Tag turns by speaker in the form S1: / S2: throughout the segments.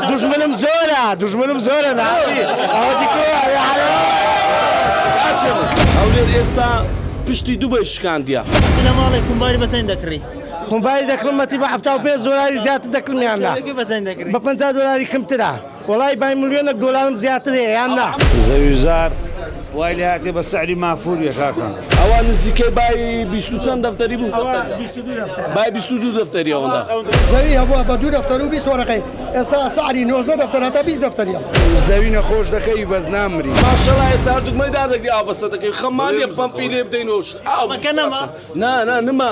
S1: دوژمنم زۆرە دوژمنم زۆرە ناوی ئەوە هەولێر
S2: ئێستا پشتی دوبەی شکاندیە. ئەخی لە ماڵێ کومباری
S3: بە چەند دەکڕی؟ کومباری دەکڕم
S1: مەتی بە حەفتا و پێنج دۆلاری زیاتر دەکڕم یان نا؟ کتێبەکەی بە چەند دەکڕی؟ بە پەنجا
S3: دۆلاری کەمترە.
S1: وەڵای بای ملیۆنەک دۆلارم زیاتر هەیە یان نا؟ زەویوزار
S4: وای لێهاتیە بە سعری مافوریە کاکە. ئەوە نزیکەی
S2: بای بیست و چەند دەفتەری بوو. بای بیست و دوو دەفتەری ئەوەندە زەوی هەبووە بە
S5: دوو دەفتەر و بیست وەرەقەی ئێستا سعری نۆزدە دەفتەر هەتا بیست دەفتەریە. زەوی نەخۆش
S1: دەکەی بەس نامری. ماشەڵا ئێستا هەردووک
S2: مەی دار دەگری ئاو بەسە دەکەی خەممان نیە پەمپی لێ بدەین و ئاو نا
S3: نا نما.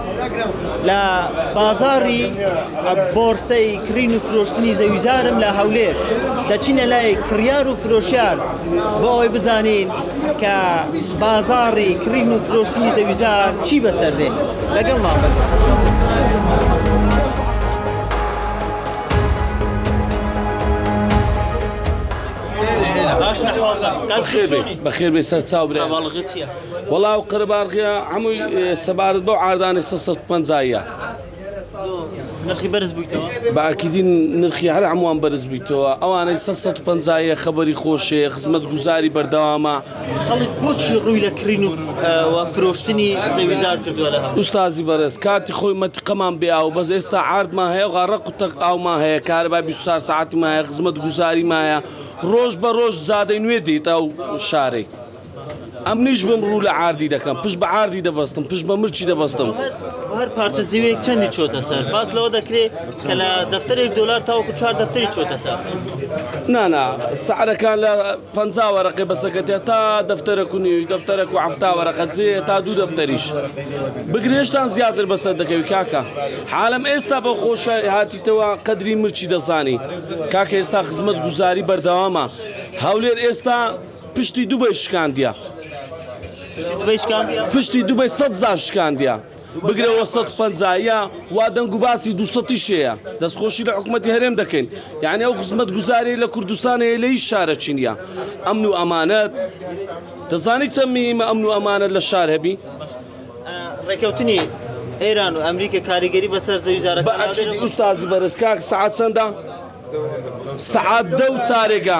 S3: لە بازاڕی بۆڕسەی کڕین و فرۆشتنی زەویزارم لە هەولێر دەچینە لای کڕیار و فرۆشیار بۆ ئەوەی بزانین کە بازاڕی کڕین و فرۆشتنی زەویزار چی بەسەر دێ لەگەڵ مابن.
S2: بەخێر بێ سەر چاو برێ. وەڵا ئەو قەرەباڵغیە هەمووی سەبارەت بەو عاردانە سە سەد پەنجاییە نرخی
S3: بەرز بوویتەوە باکیدین
S2: نرخی هەر هەمووان بەرز بوویتەوە ئەوانەی سە سەد پەنجاییە خەبەری خۆشەیە خزمەت گوزاری بەردەوامە خەڵک بۆچی
S3: ڕووی لە کڕین و فرۆشتنی زەویزار کردووە لە هەموو ئوستازی بەڕێز کاتی
S2: خۆی مەتیقەمان بێ ئاو بەس ئێستا عاردمان هەیە غا ڕق و تەق ئاومان هەیە کارەبای 24 سەعاتیمان هەیە خزمەت گوزاریمان هەیە ڕۆژ بە ڕۆژ زادەی نوێ دێیتە ئەو شارەی ئەمنیش بم ڕوو لە عاردی دەکەم پشت بە عاردی دەبەستم پشت بە مرچی دەبەستم. بۆ هەر پارچە
S3: زیوێک چەندی چۆتە سەر باس لەوە دەکرێ کە لە دەفتەرێک دۆلار تاوەکو چوار دەفتەری چۆتە سەر نانا
S2: سعرەکان لە پ وەرەقی بەسەکەتێ تا دەفتەرە و نوێی دەفتەرە و هەفتا وەرەقە جێ تا دوو دەفتەریش بگرێشتان زیاتر بەسەر دەکەوی کاکە حالم ئێستا بە خۆشە هاتیتەوە قەدری مرچی دەزانی کاکە ئێستا خزمەت گوزاری بەردەوامە هەولێر ئێستا پشتی دوبەی شکاندیە. پشتی دوبەی شکاندیە. پشتی دوبەی سەد جار شکاندیە. بگرەوە سەد و پەنجا یا وا دەنگ و باسی دوو سەدیش هەیە. دەستخۆشی لە حکومەتی هەرێم دەکەین. یانی ئەو خزمەتگوزاریەی لە کوردستان هەیە لە هیچ شارەکی نیە. ئەمن و ئەمانەت. دەزانی چەند مهیمە ئەمن و ئەمانەت لە شار هەبی.
S3: ڕێکەوتنی ئێران و ئەمریکا کاریگەری بەسەر زەویزارەکان هەبێت؟ بە ئەکیدی ئوستازی
S2: بەرێز. کاک سەعات چەندە؟ سەعات دە و چارێگە.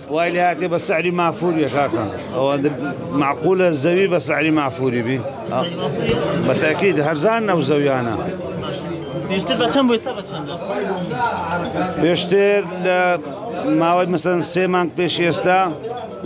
S4: وای لێ هاتێ بە سعری مافوری یە کاکە ئەوە معقولە زەوی بە سعری مافوری بی بە تاکید هەرزان نەو زەویانە پێشتر
S3: بە چەند بۆ ئێستا بە چەندە پێشتر
S4: لە ماوەی مەسەن سێ مانگ پێش ئێستا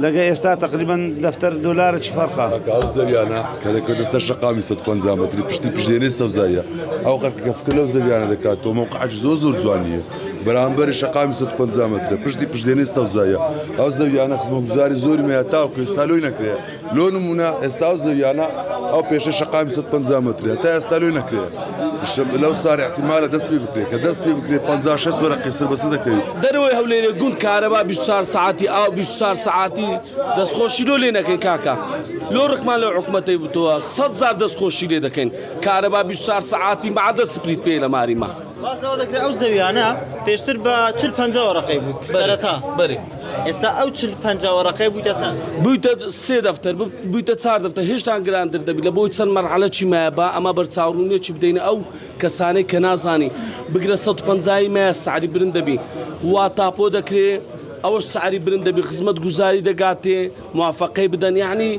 S4: لەگە ئێستا تقریبان دەفتەر دلارە چی فەرقا زەویانە
S6: کە لە کوردستە شقامی سە پەنجامەتری پشتی پشتێنەی سەوزایە ئەو قەرکە فکر لەو زەویانە دەکات تۆ موقعش زۆ زۆر جوانیە. بەرامبەری شەقامی سەد و پەنجا مەترە پشتی پشتێنەی سەوزاییە ئەو زەویانە خزمەتگوزاری زۆرم هەیە تاوەکو ئێستا لۆی نەکرێ لۆ نمونە ئێستا ئەو زەویانە ئەو پێشە شەقامی سەد و پەنجا مەترە تا ئێستا لۆی نەکرێ لەو سارە احتیمالە دەست پێ بکرێت کە دەست پێ بکرێت 50 شەست وەرەقی سەر بەسە دەکەوێت دەرەوەی هەولێرێ گوند
S2: کارەبا 24 سەعاتی ئاو 24 سەعاتی دەستخۆشی لۆ لێ نەکەین کاکە لۆ ڕقمان لەو حکومەتەی بتووە سەد جار دەستخۆشی لێ دەکەین کارەبا 24 سەعاتی مەعەدە سپریت پێی لە ماریما باس لەوە دەکرێت ئەو
S3: زەویانە پێشتر بە چل پەنج وەڕقەی بوو سەرەتا بەری
S2: ئێستا ئەو چل
S3: پەنج وەڕقەی بوویتە چەند بوویتە سێ
S2: دەفتەر بوویتە چار دەفتە هێشتان گراندر دەبی لە بۆی چەند مەرحەلە چی مایە با ئەمە بەرچاوڕونیە چی بدەینە ئەو کەسانەی کە نازانی بگرە 150 مایە ساری برن دەبی وا تاپۆ دەکرێت ئەوەش ساری برن دەبی خزمەت گوزاری دەگاتێ موافقەی بدەن یعنی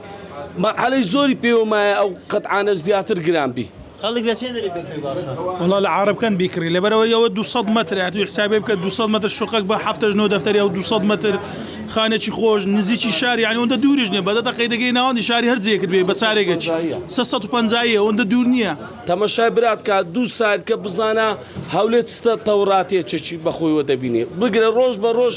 S2: مەرحەلەی زۆری پێوەمایە ئەو قەتعاانە زیاتر گران بی. خەڵک لە چێ دەرێ
S3: بکڕی باشە؟ وەڵا لە عارەبکەند
S7: بیکڕی لەبەرەوەی ئەوە دوو سەد مەترە ئەتوی حسابێ بکە دوو سەد مەتر شوقەک بە حەفتەش نۆ دەفتەری ئەو دوو سەد مەتر خانێکی خۆش نزیکی شار یانی ئەوەندە دووریش نییە بە دە دەقەی دەگەی ناوەندی شاری هەر جێیەکت بێ بە چارێگەچ سێ سەد و پەنجا یە ئەوەندە دوور نییە تەمەشای برات کە
S2: دوو سایت کە بزانە هەولێر چ تەوراتێکێکی بەخۆیوە دەبینێ بگرە ڕۆژ بە ڕۆژ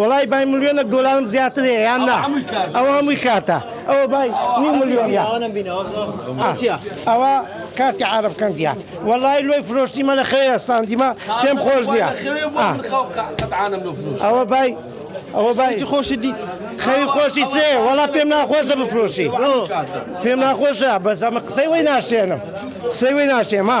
S1: وەڵای بای ملیۆنەک دۆلارم زیاتر هەیە یان نا ئەوە هەمووی کارتە ئەوە بای نیو ملیۆنە ئەوە کارتی عرب کەندیا وەڵای لۆی فرۆشتیمە لە خەوێ ئەستاندیمە پێم خۆش نییە ئەوە بای ئەوە بای خۆشی دی
S3: خەوی خۆشی
S1: سێ وەڵا پێم ناخۆشە بفرۆشی پێم ناخۆشە بەس ئەمە قسەی وی ناشێنم قسەی وی ناشێمە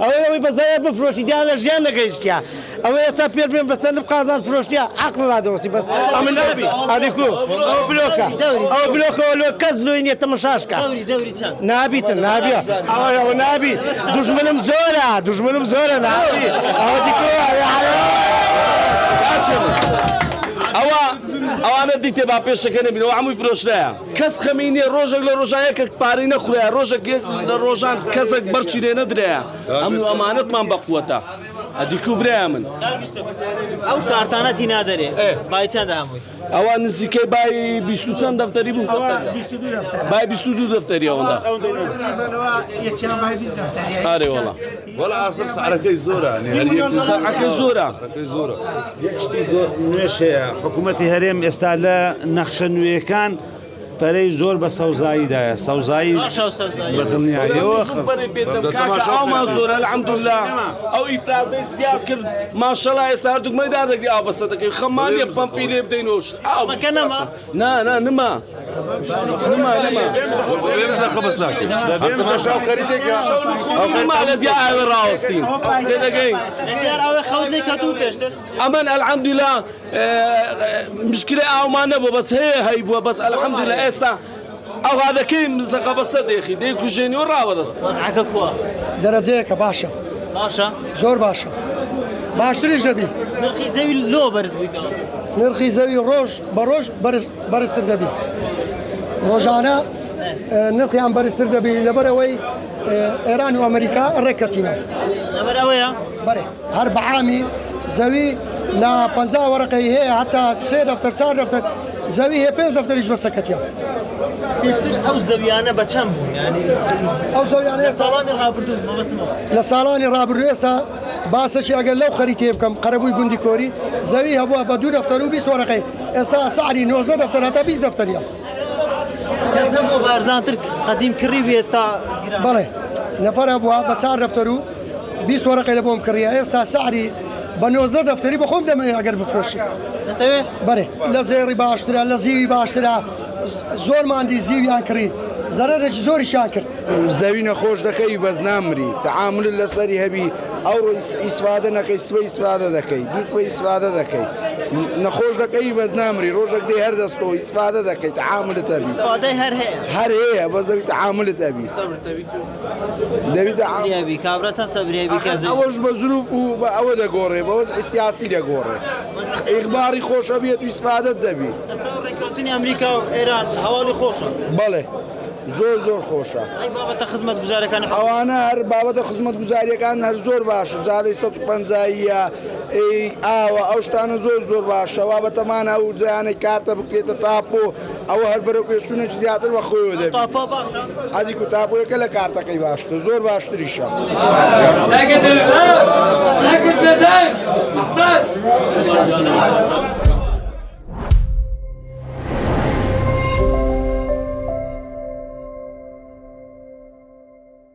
S1: ئەوەی ئەوەی بە زەرەر بفرۆشی دیار لە ژیان نەگەیشتیە ئەوەی ئێستا پێت بڵێم بە چەند بقازان فرۆشتیە عەقڵ لادەوەستی بەس ئەمن نابی ئەدی کو ئەوە بلۆکە ئەوە بلۆکەوە لۆ کەس لۆی نیە تەمەشاش کە نابیتن نابیە ئەوە ئەوە نابی دوژمنم زۆرە دوژمنم زۆرە نابی ئەوە دی کو
S2: ئەوە ئەوانە دیتێ با پێشەکە نەبینەوە هەمووی فرۆشرایە کەس خەمی نیە ڕۆژەک لە ڕۆژان یەکەک پارەی نەخورایە ڕۆژەک یەک لە ڕۆژان کەسەک بەرچی لێ نەدرایە ئەمن و ئەمانەتمان بەقوەتە ئەدیکو برای من ئەو
S3: کارتانەتی نادەرێ بای چەند هەمووی ئەوە نزیکەی
S2: بای بیست و چەند دەفتەری بوو بای بیست و دوو دەفتەری ئەوەندا ئارێ وەڵا وەلا ئاسڵ
S6: سعرەکەی زۆرە سعرەکەی
S2: زۆرە یەک
S4: شتی نوێش هەیە حکوومەتی هەرێم ئێستا لە نەخشە نوێیەکان پەرەی زۆر بە سەوزاییدایە سەوزایی بە دڵنیایەوە
S2: ئەومان زۆرە لە ئەمدولا ئەوی پرازەی سیا کرد ماشەڵا ئێستا دوگمەدار دەگری ئاو بەسە دەکەی خەمانە پمپی لێ بدەینەوە ئاوەکەنەما نا نا نما نما نما بێمزە خبس ناکەین بێمزە شاو خەریتێکە نما لە دیا ئاوێ ڕاوەستین تێ دەگەین ئەمن ئەلحەمدولا مشکلی ئاومان نەبوو بەس هەیە هەی بووە بەس ئەلحەمدولا ئێستا ئاوادەکەی زەقە بەستە دێخی دەیکوژێنی و ڕاوەدەستە. وەزعەکە کوا؟
S5: دەرەجەیەکە باشە. باشە؟ زۆر باشە. باشتریش دەبی. نرخی زەوی لۆ
S3: بەرز بوویتەوە؟ نرخی زەوی
S5: ڕۆژ بە ڕۆژ بەرز بەرزتر دەبی. ڕۆژانە نرخیان بەرزتر دەبی لەبەر ئەوەی ئێران و ئەمریکا ڕێک کەتینە. لەبەر ئەوەیە؟
S3: بەرێ. هەر
S5: بەعامی زەوی لە پەنجا وەرەقەی هەیە هەتا سێ دەفتەر چار دەفتەر زەوی هەیە پێنج دەفتەریش بە سەکەتیان پێشتر
S3: ئەو زەویانە بە چەند بوون یانی ئەو
S5: زەویانە لە ئێستا ساڵانی ڕابردوو
S3: مەبەستمەوە لە ساڵانی
S5: ڕابردوو ئێستا باسەکی ئەگەر لەو خەریتێ بکەم قەرەبووی گوندی کۆری زەوی هەبووە بە دوو دەفتەر و بیست وەرەقەی ئێستا سعری نۆزدە دەفتەر هەتا بیست دەفتەریان
S3: کەس هەبوو بارزانتر قەدیم کڕی بێ ئێستا گران بەڵێ
S5: نەفەر هەبووە بە چار دەفتەر و بیست وەرەقەی لەبۆم کڕیە ئێستا سعری بە نۆزدە دەفتەری بە خۆم دەمەوێ ئەگەر بفرۆشی دەتەوێ بەێ لە زێڕی باشترە لە زیوی باشترە زۆر ماندی زیویان کڕی زەرەێکی زۆریشان کرد زەوی نەخۆش
S8: دەکەی بەس نامری تەعامل لەسەری هەبی ئەو ڕۆی ئیسفادە نەکەی سوە ئیسفادە دەکەی دووسوە ئیسفادە دەکەی نەخۆش دەکەی بەس نامری ڕۆژێک دێ هەر دەستۆ ئیسفادە دەکەی تەعاملت هەبی
S3: هەر هەیە بە زەوی
S8: تەعاملت هەبی دەبیتە عام. سەبریابی
S3: کابرا چەند سەبریابی ئەخەر کەزەی ئەوەش بە زروف و
S8: بە ئەوە دەگۆڕێ بە وەزعی سیاسی دەگۆڕێ ئیغماڕی خۆش ئەبیت و ئیسفادەت دەبی ئێستا ڕێککەوتنی
S3: ئەمریکا و ئێران هەواڵی خۆشە بەڵێ
S8: زۆر زۆر خۆشە ئەی بابەتە
S3: خزمەتگوزارەکانی حکومەت ئەوانە هەر بابەتە
S8: خزمەتگوزاریەکان هەر زۆر باشن جادەی سەد و پەنجاییە ئەی ئاوە ئەو شتانە زۆر زۆر باشە وا بەتەمانە ئەو جایانەی کارتە بکرێتە تاپۆ ئەوە هەر بەرەو پێشچوونێکی زیاتر بە خۆیەوە دەبینێت.
S3: ئەدی کو تاپۆیەکە
S8: لە کارتەکەی باشترە، زۆر باشتریشە.